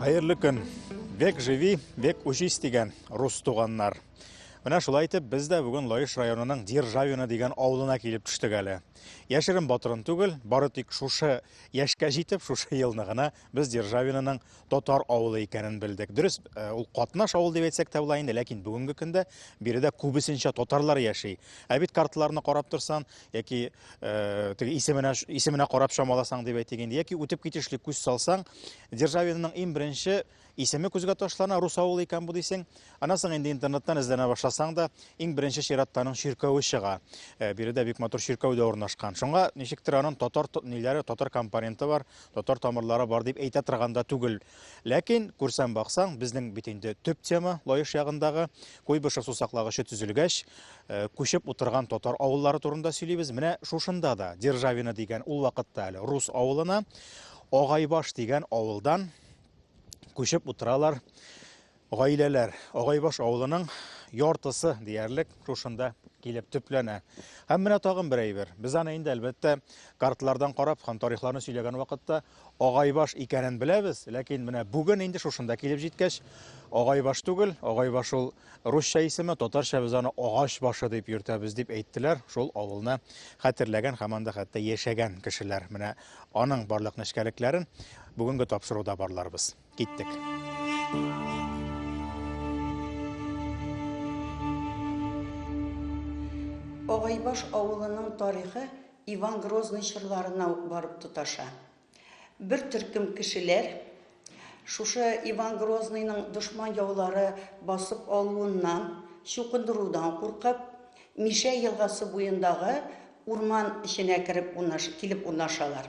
Хәерле көн. Век живи, век учись дигән рус туганнар. Менә шулай итеп без дә бүген Лаеш районының Державина дигән авылына килеп төштек әле. Яшерен батырын түгел, бары тик шушы яшькә җитеп, шушы елны гына без Державинаның татар авылы икәнен белдек. Дөрес, э, ул катнаш авыл дип әйтсәк тә була инде, ләкин бүгенге көндә биредә күбесенчә татарлар яши. Ә бит карталарны карап торсан, яки Э, теге исеменә исеменә карап чамаласаң дип әйтик инде яки үтеп китешлек күз салсаң державинның иң беренче исеме күзгә ташлана рус авылы икән бу дисең аннан соң инде интернеттан эзләнә башласаң да иң беренче чиратта аның чиркәве чыга э, биредә бик матур чиркәү дә урнашкан шуңа ничектер аның татар ниләре татар компоненты бар татар тамырлары бар дип әйтә торган да түгел Ләкин, күрсәм баксаң, безнең бит инде төп тема Лаеш ягындагы Куйбышев сусаклагычы төзелгәч, э, күчеп утырган татар авыллары турында сөйлибез. Менә шушында да Державина дигән ул вакытта әле рус авылына Агайбаш дигән авылдан күчеп утыралар Гаиләләр Агайбаш авылының яртысы диярлек шушында килеп төпләнә. Һәм менә тагын бер әйбер. Без аны инде, әлбәттә, картлардан карап һәм тарихларны сөйләгән вакытта Агайбаш икәнен беләбез, ләкин менә бүген инде шушында килеп җиткәч, Агайбаш түгел, Агайбаш ул русча исеме, татарча без аны Агач башы дип йөртәбез дип әйттеләр шул авылны хәтерләгән һәм анда хәтта яшәгән кешеләр. Менә аның барлык нечкәлекләрен бүгенге тапшыруда барларбыз. Киттек. Агайбаш авылының тарихы Иван Грозный чорларына ук барып тоташа. Бер төркем кешеләр шушы Иван Грозныйның дошман яулары басып алуыннан, чукындырудан куркып, Мишә елгасы буендагы урман эченә кереп унаша, килеп унашалар.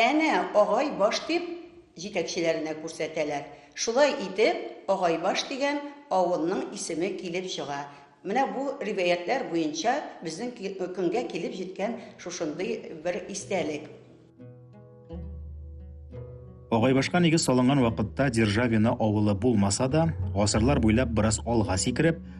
Әнә, Агай баш дип, җитәкчеләренә күрсәтәләр. Шулай итеп, Агайбаш дигән авылның исеме килеп чыга. Менә бу риваятьләр буенча безнең көнгә килеп җиткән шушындый бер истәлек. Агайбашка нигез салынган вакытта Державино авылы булмаса да, гасырлар буйлап бераз алга сикереп,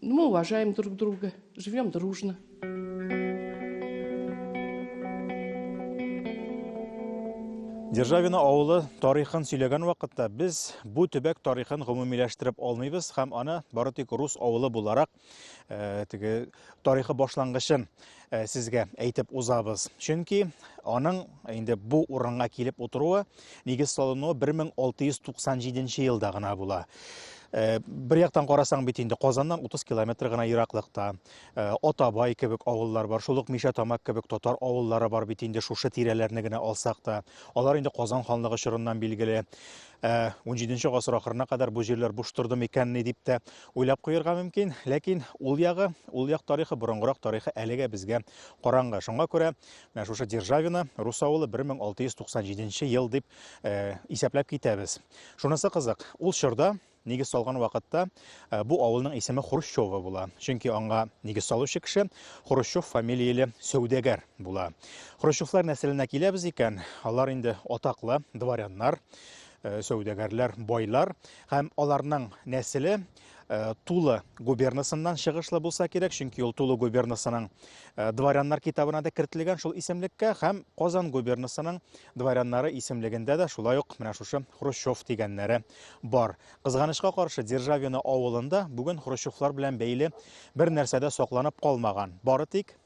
Мы уважаем друг друга, живем дружно. Державина авылы тарихын сөйләгән вакытта без бу төбәк тарихын гомумиләштереп алмыйбыз һәм аны бары тик рус авылы буларак э, теге тарихы башлангычын Э, сезгә әйтеп узабыз. Чөнки аның инде бу урынга килеп утыруы нигез салынуы 1697 елда гына була. Э, бер яктан карасаң бит инде Казаннан 30 километр гына ераклыкта э, Атабай кебек авыллар бар, шул ук Мишә Тамак кебек татар авыллары бар бит инде шушы тирәләрне генә алсак та. Алар инде Казан ханлыгы чорыннан билгеле. 17 гасыр ахырына кадәр бу җирләр буш торды микәнни дип тә Уйлап куерга мөмкин, ләкин ул ягы, ул як тарихы, борынгырак тарихы әлегә безгә караңгы. Шуңа күрә менә шушы Державино рус авылы 1697 ел дип исәпләп китәбез. Шунысы кызык, ул чорда нигез салган вакытта бу авылның исеме Хрущево була. Чөнки аңа нигез салучы кеше Хрущев фамилияле сәүдәгәр була. Хрущевлар нәселенә киләбез икән, алар инде атаклы дворяннар, сәүдәгәрләр, байлар. Һәм аларның нәселе Тулы губернасыннан чыгышлы булса кирәк, чөнки ул Тулы губернасының дворяннар китабына да кертелгән шул исемлеккә һәм Казан губернасының дворяннары исемлегендә дә шулай ук менә шушы Хрущев дигәннәре бар. Кызганычка каршы, Державино авылында бүген Хрущевлар белән бәйле бер нәрсә дә сакланып калмаган. Бары тик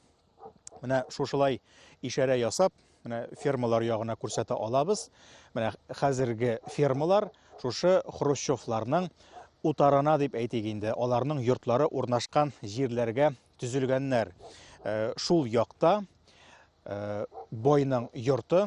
Менә шушылай ишарә ясап, менә фермалар ягына күрсәтә алабыз. Менә хәзерге фермалар шушы хрущевларның утарына дип әйтик инде, аларның йортлары урнашкан җирләргә төзелгәннәр. Э, шул якта э, бойның йорты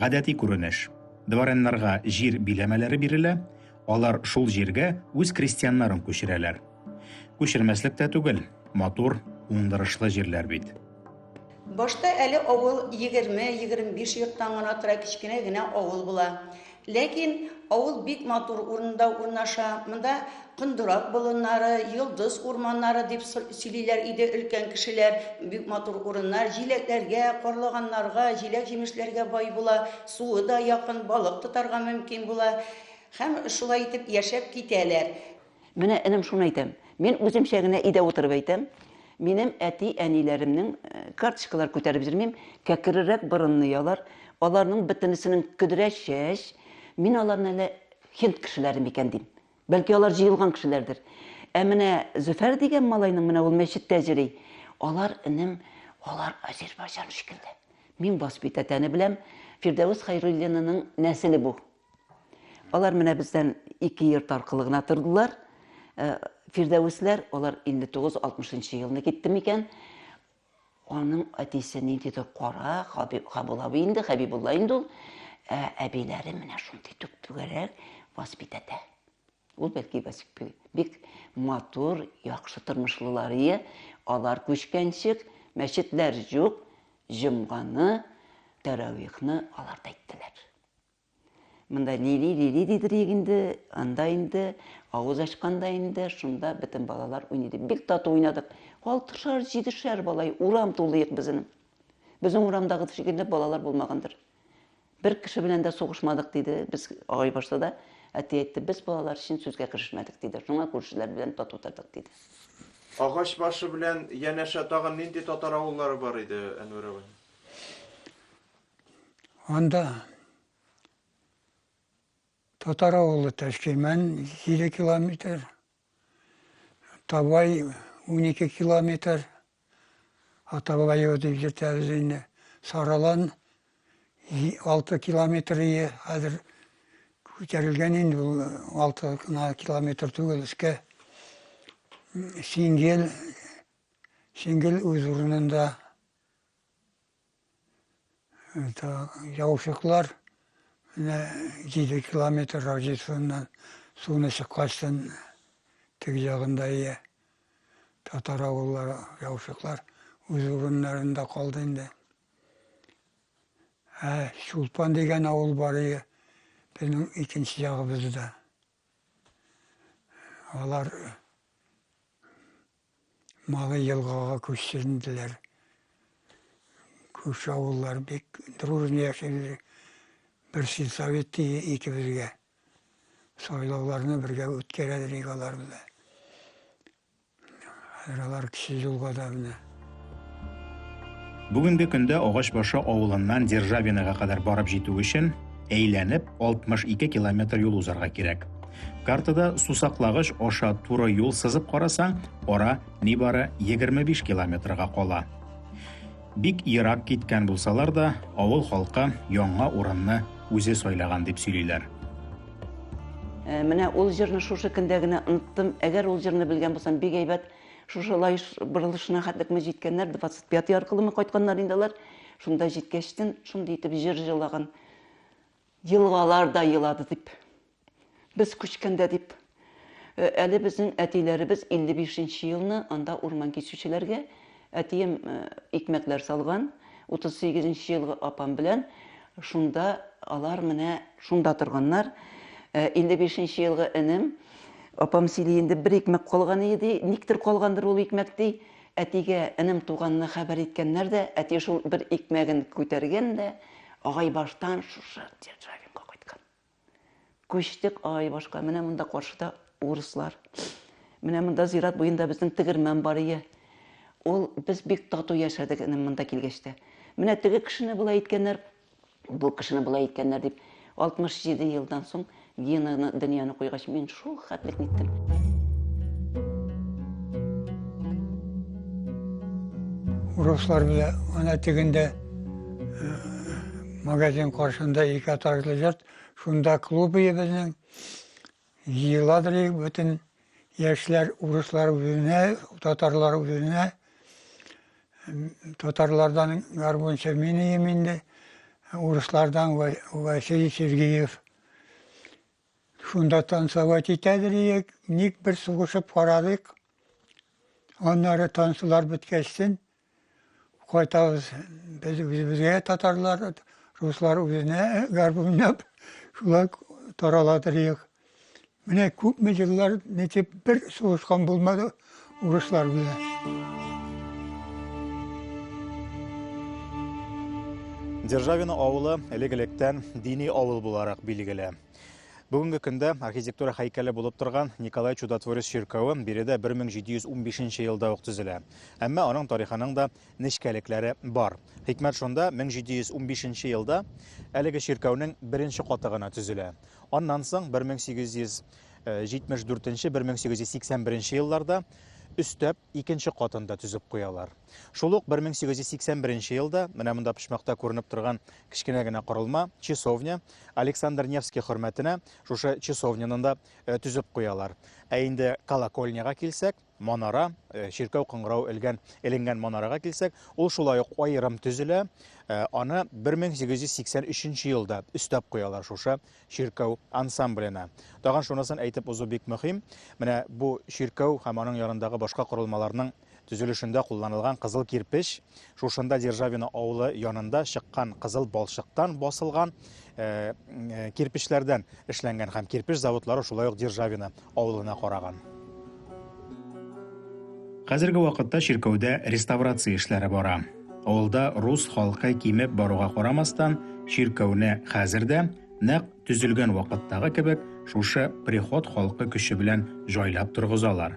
Гадәти күренеш. Дворяннарга җир биләмәләре бирелә, алар шул җиргә үз крестьяннарын күчерәләр. Күчермәслек тә түгел, матур, уңдырышлы җирләр бит. Башта әле авыл егерме-егерме биш йорттан гына тора, кечкенә генә авыл була. Ләкин авыл бик матур урында урнаша, монда Кондырак болыннары, Йолдыз урманнары дип сөйлиләр иде өлкән кешеләр. Бик матур урыннар, җиләкләргә, карлыганнарга, җиләк-җимешләргә бай була, суы да якын, балык тотарга мөмкин була. Һәм шулай итеп яшәп китәләр. Менә, энем, шуны әйтәм. Мин үземчә генә өйдә утырып әйтәм. Минем әти-әниләремнең э, карточкалар күтәреп йөрмим, кәкрерәк борынны ялар, аларның бөтенесенең көдрә чәч. Мин аларны әле хинд кешеләре микән дим. Бәлки алар җыелган кешеләрдер. Ә менә Зөфәр дигән малайның менә ул мәчеттә җыри. Алар энем, алар Азербайҗан шикелле. Мин воспитатәне беләм. Фирдәвес Хайруллинының нәселе бу. Алар менә бездән ике йорт аркылы гына тордылар. Э, Фирдәвесләр, алар 59-60 елны китте микән? Аның әтисе ниндидер кара, Хабиб- абый инде, Хәбибулла инде ул. Ә әбиләре менә шундый түп-түгәрәк воспитата. Ул бәлки бик матур, яхшы тормышлылар ие. Алар күчкәнчек, мәчетләр юк, җомганы, тәравихны алар да иттеләр. Монда Лили, Лили дидер инде, анда инде, авыз ачканда инде, шунда бөтен балалар уйный дип. Бик тату уйнадык. Алтышар, җидешәр балай, урам тулыйк безнең. Безнең урамдагы шикелле балалар булмагандыр. Бер кеше белән дә сугышмадык диде. Без агай башта да әти әйтте, без балалар өчен сүзгә керешмәдек диде. Шуңа күршеләр белән тату тордык диде. Агач башы белән янәшә тагын нинди татар авыллары бар иде, Әнвәр абый? Анда татар авылы Ташкирмән 7 километр, Табай 12 километр, Атабайы дип йөртәбез инде. Саралан 6 километр ие, хәзер күтәрелгән инде ул 6 гына километр түгел өскә. Сингел, Сингел үз урынында Это яушыклар менә 7 километр радиусыннан суны чыккачтын теге ягында ия. Татар авыллары яушыклар үз урыннарында калды инде. Ә Чулпан дигән авыл бар ия. Безнең икенче ягыбызда. Алар Малый елгага күчеренделәр. Күрше авыллар бик дружно яшәделәр. Бер сельсовет тиде икебезгә. Сайлауларны бергә үткәрәдер иде алар белән. Хәзер алар кеше юлга да менә. Бүгенге көндә Агачбашы авылыннан Державиного кадәр барып җитү өчен әйләнеп 62 километр юл узарга кирәк. Картада сусаклагыч аша туры юл сызып карасаң, ара нибары 25 километрга кала. Бик ерак киткән булсалар да, авыл халкы яңа урынны үзе сайлаган дип сөйлиләр. Ә, менә ул җырны шушы көндә генә оныттым. Әгәр ул җырны белгән булсам, бик әйбәт. Шушы лаеш борылышына хәтлеме җиткәннәр, 25 аркылымы кайтканнар инде алар. Шунда җиткәчтен, шундый итеп җыр җылаган. Елгалар да елады дип. Без күчкәндә дип. Э, әле безнең әтиләребез 55 нче елны анда урман кичүчеләргә әтием э, икмәкләр салган. 38 нче елгы апам белән шунда алар менә шунда торганнар. 55 э, нче елгы энем, апам сөйли инде бер икмәк калган иде, никтер калгандыр ул икмәк ди. Әтигә энем туганны хәбәр иткәннәр дә, әти шул бер икмәген күтәргән дә, агай баштан шушы Державинга кайткан. Күчтек, ай, башка. Менә монда каршыда урыслар. Менә монда зират буенда безнең тегермән бар ие. Ул без бик тату яшәдек инде монда килгәч тә. Менә теге кешене болай иткәннәр, бу кешене болай иткәннәр дип 67 елдан соң Генаны дөньяны куйгач мин шул хәтлек ниттем. Урыслар белән ана тегендә Магазин каршында ике этажлы йорт, шунда клуб ие безнең. Җыеладыр ие бөтен яшьләр, урыслар үзенә, татарлар үзенә. Татарлардан гармунчы мин ием инде, урыслардан Василий Сергеев. Шунда танцевать итәдер иек, ник бер сугышып карадык. Аннары танцулар беткәчтен, Кайтабыз без үзебезгә татарлар, руслар үзенә гарп уйнап, шулай тарала торыйк. Менә күпме еллар ничек бер сугышкан булмады урыслар белән. Державина авылы элек-электән дини авыл буларак билгеле. Бүгенге көндә архитектура һәйкәле булып торган Николай Чудотворец чиркәве биредә 1715 елда ук төзелә. Әмма аның тарихының да нечкәлекләре бар. Хикмәт шунда, 1715 елда әлеге чиркәүнең беренче каты гына төзелә. Аннан соң 1874-1881 елларда өстәп икенче катын да төзеп куялар. Шул ук 1881 елда менә монда почмакта күренеп торган кечкенә генә корылма, часовня, Александр Невский хөрмәтенә шушы часовняны да э, төзеп куялар. Ә инде колокольняга килсәк, Манара, э, чиркәү кыңгырау элгән, эленгән манарага килсәк, ул шулай ук аерым төзелә. Э, аны 1883 елда өстәп куялар шушы чиркәү ансамбленә. Тагын шунысын әйтеп узу бик мөһим. Менә бу чиркәү һәм аның ярындагы башка корылмаларның төзелешендә кулланылган кызыл кирпеч Шушында Державино авылы янында чыккан кызыл балчыктан басылган кирпечләрдән эшләнгән һәм кирпеч заводлары шулай ук Державино авылына караган. Хәзерге вакытта чиркәүдә реставрация эшләре бара. Авылда рус халкы кимеп баруга карамастан, чиркәүне хәзер дә, нәкъ төзелгән вакыттагы кебек, шушы приход халкы көче белән җайлап торгызалар.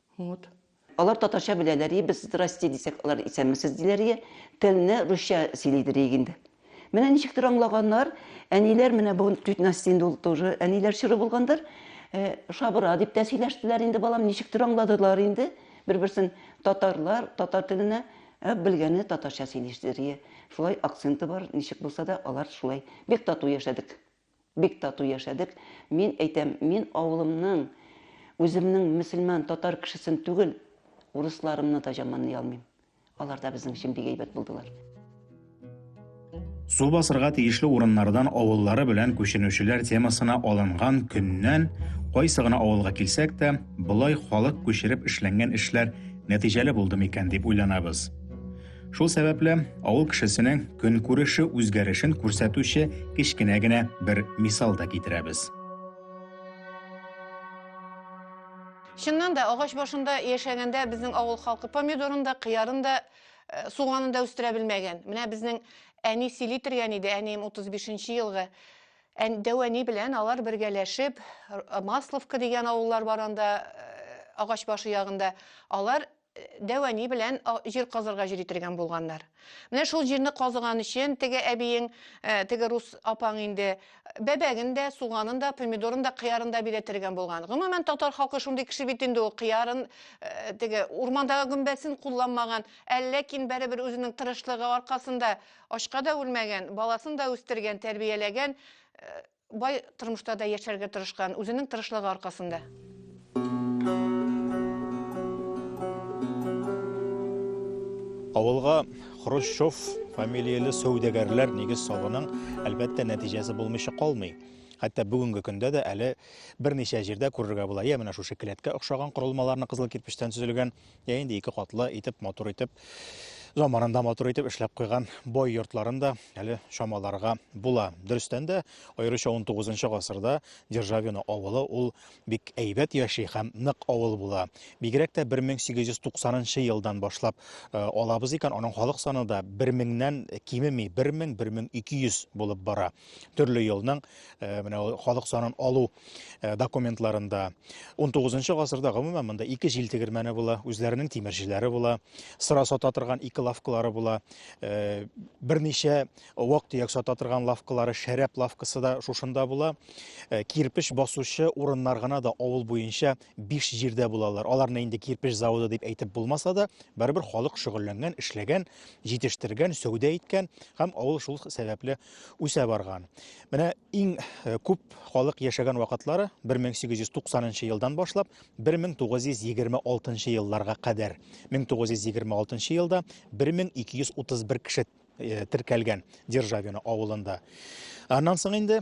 Вот. Алар татарча беләләрие, без здрасте дисәк, алар исәнмесез диләрие, телне русча сөйлидерие инде. Менә ничектер аңлаганнар, әниләр менә бу тетнасти инде ул тоже әниләр чоры булгандыр. Э, шабыра дип тә сөйләштеләр инде балам, ничектер аңладылар инде. Бер-берсен татарлар, татар теленә ә белгәне татарча сөйләштерие. Шулай акценты бар, ничек булса да алар шулай бик тату яшәдек. Бик тату яшәдек. Мин әйтәм, мин авылымның, үземнең мөселман, татар кешесен түгел, урысларымны да жаманлый алмыйм. Алар да безнең өчен бик әйбәт булдылар. Су басырга тиешле урыннардан авыллары белән күченүчеләр темасына алынган көннән кайсы гына авылга килсәк тә, болай халык күчереп эшләнгән эшләр нәтиҗәле булдымы икән дип уйланабыз. Шул сәбәпле авыл кешесенең көнкүреше үзгәрешен күрсәтүче кечкенә генә бер мисал да китерәбез. Чыннан да агач башында яшәгәндә безнең авыл халкы помидорын да, кыярын да, э, суганын да үстерә белмәгән. Менә безнең әни сөйли торган иде, әнием 35 елгы дәвәни белән алар бергәләшеп масловка дигән авыллар бар анда э, агач башы ягында алар дәвани белән җир казырга җир итергән булганнар. Менә шул җирне казыган өчен теге әбиең, э, теге рус апаң инде бәбәген дә, суганын да, помидорын да, кыярын да бирәтергән булган. Гомумән татар халкы шундый кеше бит инде ул кыярын, э, теге урмандагы гөмбәсен кулланмаган, ә ләкин бәребер үзенең тырышлыгы аркасында ачка да үлмәгән, баласын да үстергән, тәрбияләгән. Э, Бай тормышта да яшәргә тырышкан, үзенең тырышлыгы аркасында. Авылга Хрущев фамилияле сәүдәгәрләр нигез салуның, әлбәттә, нәтиҗәсе булмыйча калмый. Хәтта бүгенге көндә дә әле берничә җирдә күрергә була. Я менә шушы келәткә охшаган корылмаларны кызыл кирпечтән төзелгән, я инде ике катлы итеп матур итеп заманында матур итеп эшләп куйган бой йортларын да әле чамаларга була. Дөрестән дә, аеруча 19 гасырда Державино авылы ул бик әйбәт яши һәм нык авыл була. Бигрәк тә 1890 елдан башлап э, алабыз икән, аның халык саны да 1000-нән кимеми, 1000-1200 булып бара. төрле елның э, менә халык санын алу э, документларында 19 гасырда гомумән монда ике җил тегермәне була, үзләренең тимерчеләре була, сыра сата торган ике лавкалары була, э, берничә вак-төяк сата торган лавкалары, шәрәп лавкасы да шушында була. Кирпеч басучы урыннар гына да авыл буенча биш җирдә булалар. Аларны инде кирпеч заводы дип әйтеп булмаса да, барыбер халык шөгыльләнгән, эшләгән, җитештергән, сәүдә иткән һәм авыл шул сәбәпле үсә барган. Менә иң э, күп халык яшәгән вакытлары 1890 елдан башлап 1926 елларга кадәр. 1926 елда 1231 кеше э, теркәлгән Державино авылында. Аннан соң инде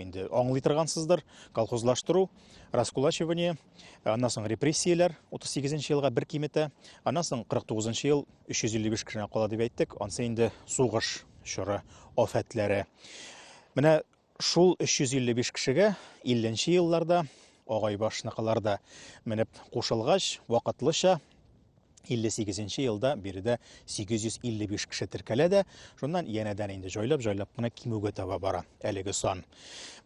Инде аңлый торгансыздыр, колхозлаштыру, раскулачивание, аннан соң репрессияләр 38 нче елга бер киметә, аннан соң 49 нчы ел 355 кешене кала дип әйттек, ансы инде сугыш чоры афәтләре. Менә шул 355 кешегә 50 нче елларда агайбашныкылар да менеп кушылгач, вакытлыча 58 нче елда биредә 855 кеше теркәлә дә, шуннан янәдән инде җайлап-җайлап кына кимүгә таба бара әлеге сан.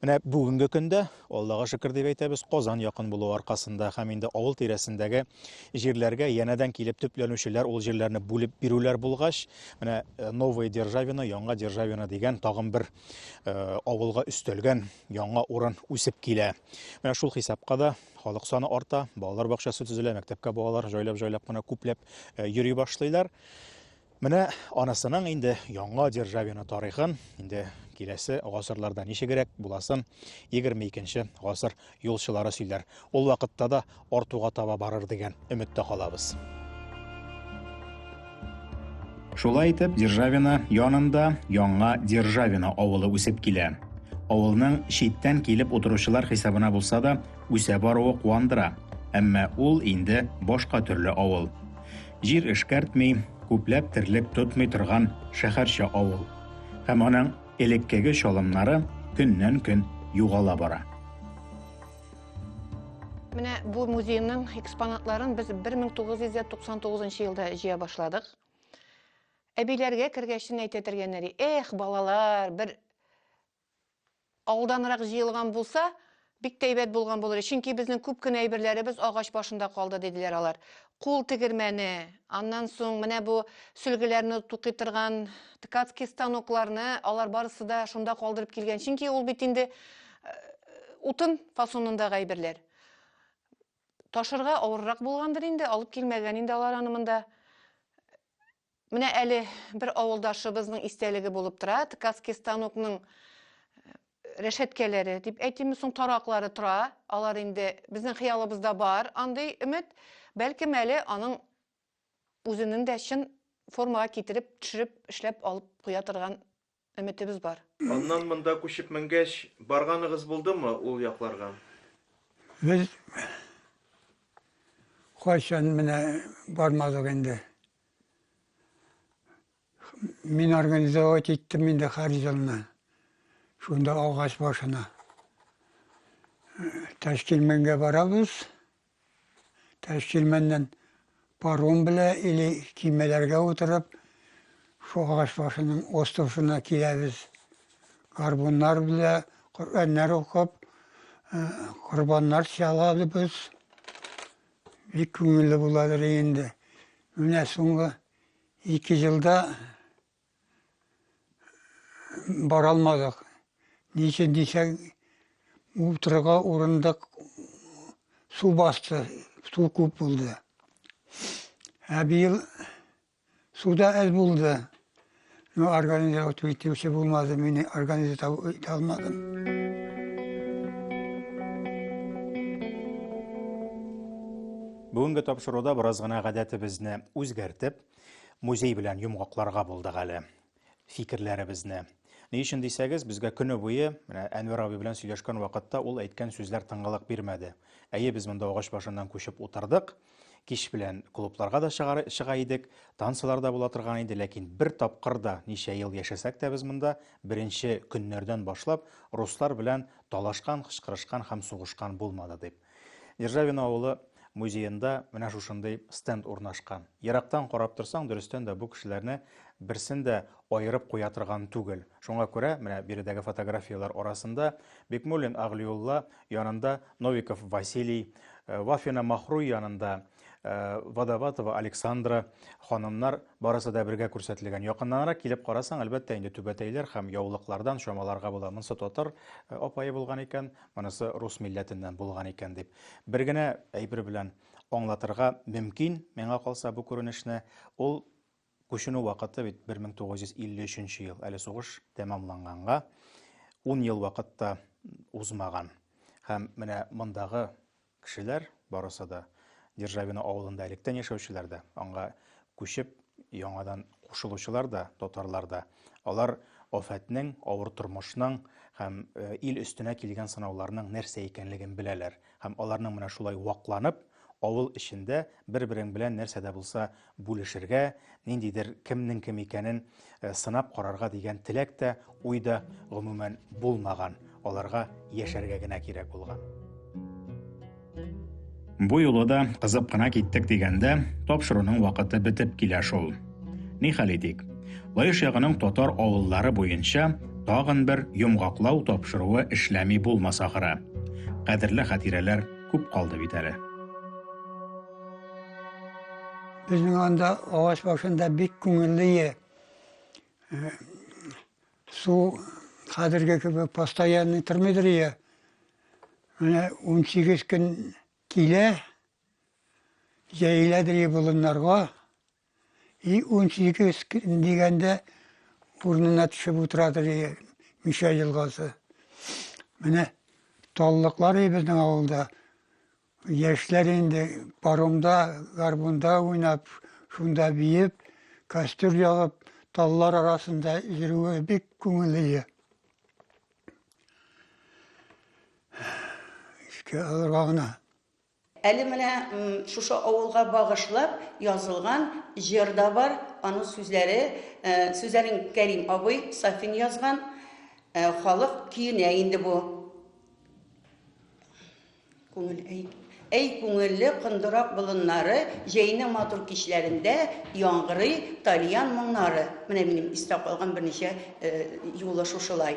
Менә бүгенге көндә, Аллага шөкер дип әйтәбез, Казан якын булу аркасында һәм инде авыл тирәсендәге җирләргә янәдән килеп төпләнүчеләр ул җирләрне бүлеп бирүләр булгач, менә э, Новая Державина, Яңа Державина дигән тагын бер э, авылга өстәлгән яңа урын үсеп килә. Менә шул хисапка да халык саны арта, балалар бакчасы төзелә, мәктәпкә балалар җайлап-җайлап кына күпләп э, йөри башлыйлар. Менә анасының инде яңа державина тарихын, инде киләсе гасырларда ничегрәк буласын 22-нче гасыр юлчылары сөйләр. Ул вакытта да артуга таба барыр дигән өметтә калабыз. Шулай итеп, Державина янында яңа Державина авылы үсеп килә. Авылның читтән килеп утыручылар хисабына булса да, үсә баруы куандыра. Әмма ул инде башка төрле авыл. Җир эшкәртми, күпләп терлек тотмый торган шәһәрчә авыл. Һәм аның элеккеге чалымнары көннән-көн югала бара. Менә бу музейның экспонатларын без 1999 елда җыя башладык. Әбиләргә кергәчтен әйтә тергәннәр, эх, балалар, бер алданрак җыелган булса, бик тәйбәт булган булыр. Чөнки безнең күп кенә әйберләребез агач башында калды, диделәр алар. Кул тегермәне, аннан соң менә бу сөлгеләрне тукый торган ткацкий станокларны, алар барысы да шунда калдырып килгән. Чөнки ул бит инде утын фасонындагы әйберләр. Ташырга авыррак булгандыр инде, алып килмәгән инде алар аны монда. Менә әле бер авылдашыбызның истәлеге булып тора, ткацкий станокның рәшәткәләре дип әйтимме соң, тараклары тора. Алар инде безнең хыялыбызда бар андый өмет. Бәлкем әле аның үзенең дә чын формага китереп, төшереп, эшләп алып куя торган Өметебез бар. Аннан монда күчеп менгәч, барганыгыз булдымы ул якларга? Без кайчан менә бармадык инде. Мин организовать иттем инде һәр елны. Шунда агач башына. Тәшкилмәнгә барабыз. Ташчилмәннән паром белә или кимәләргә утырып шул агач башының остовшына киләбез. Гарбуннар белә Коръәннәр укып, корбаннар чалабыз. Бик күңелле буладыр инде. Менә соңгы ике елда бара алмадык. Ни өчен дисәң, утырырга урындык су басты, су күп булды. Ә быел су да әз булды. Но организовать итүче булмады, мине организовать итә алмадым. Бүгенге тапшыруда бераз гына гадәтебезне үзгәртеп, Музей белән йомгакларга булдык әле фикерләребезне. Ни өчен дисәгез, безгә көне буе, менә Әнвәр абый белән сөйләшкән вакытта ул әйткән сүзләр тыңгылык бирмәде. Әйе, без монда агач башыннан күчеп утырдык. Кич белән клубларга да чыгар, чыга идек, танцлар да була торган иде, ләкин бер тапкыр да ничә ел яшәсәк тә без монда беренче көннәрдән башлап руслар белән талашкан, кычкырышкан һәм сугышкан булмады дип. Державино авылы музеенда менә шушындый стенд урнашкан. Ерактан карап торсаң, дөрестән дә бу кешеләрне берсен дә аерып куя торган түгел. Шуңа күрә менә биредәге фотографияләр арасында Бикмуллин Агълиулла янында Новиков Василий, э, Вафина Махруй янында Э, Водоватова Александра ханымнар барысы да бергә күрсәтелгән. Якыннанрак килеп карасаң, әлбәттә инде түбәтәйләр һәм яулыклардан чамаларга була. Монысы татар э, апайы булган икән, монысы рус милләтеннән булган икән дип. Бер генә әйбер белән аңлатырга мөмкин, миңа калса бу күренешне, ул Күченү вакыты бит 1953 нче ел, әле сугыш тәмамланганга ун ел вакыт та узмаган. Һәм менә мондагы кешеләр барысы да Державино авылында электән яшәүчеләр дә, аңа күчеп яңадан кушылучылар да, татарлар да, алар афәтнең, авыр тормышның һәм ил өстенә килгән сынауларның нәрсә икәнлеген беләләр. Һәм аларның менә шулай вакланып, Авыл эчендә бер-берең белән нәрсә дә булса бүлешергә, ниндидер кемнең кем икәнен сынап карарга дигән теләк тә, уй да, гомумән, булмаган, аларга яшәргә генә кирәк булган. Бу юлы да кызып кына киттек дигәндә, тапшыруның вакыты бетеп килә шул. Нихәл итик, Лаеш ягының татар авыллары буенча тагын бер йомгаклау тапшыруы эшләми булмас ахыры. Кадерле хатирәләр. күп калды бит әле. Безнең анда агач башында бик күңелле е. Э, су хәзерге кебек постоянный тормыйдыр е. Менә 18 көн килә, җәеләдер е болыннарга, И унсигез дигәндә урынына төшеп утыра ди Мишә елгасы. Менә таллыклар и безнең авылда. Яшьләр инде паромда, гармунда уйнап, шунда биеп, костер ягып, таллар арасында йөрүе бик күңелле. Искә алырга гына. Әле менә шушы авылга багышлап язылган җыр да бар, аның сүзләре, сүзләрен Кәрим абый Сафин язган, халык көенә инде бу. Күңел, әй, әй күңелле кондырак болыннары, җәйнең матур кичләрендә яңгырый тальян моңнары. Менә минем истә калган берничә юлы шушылай.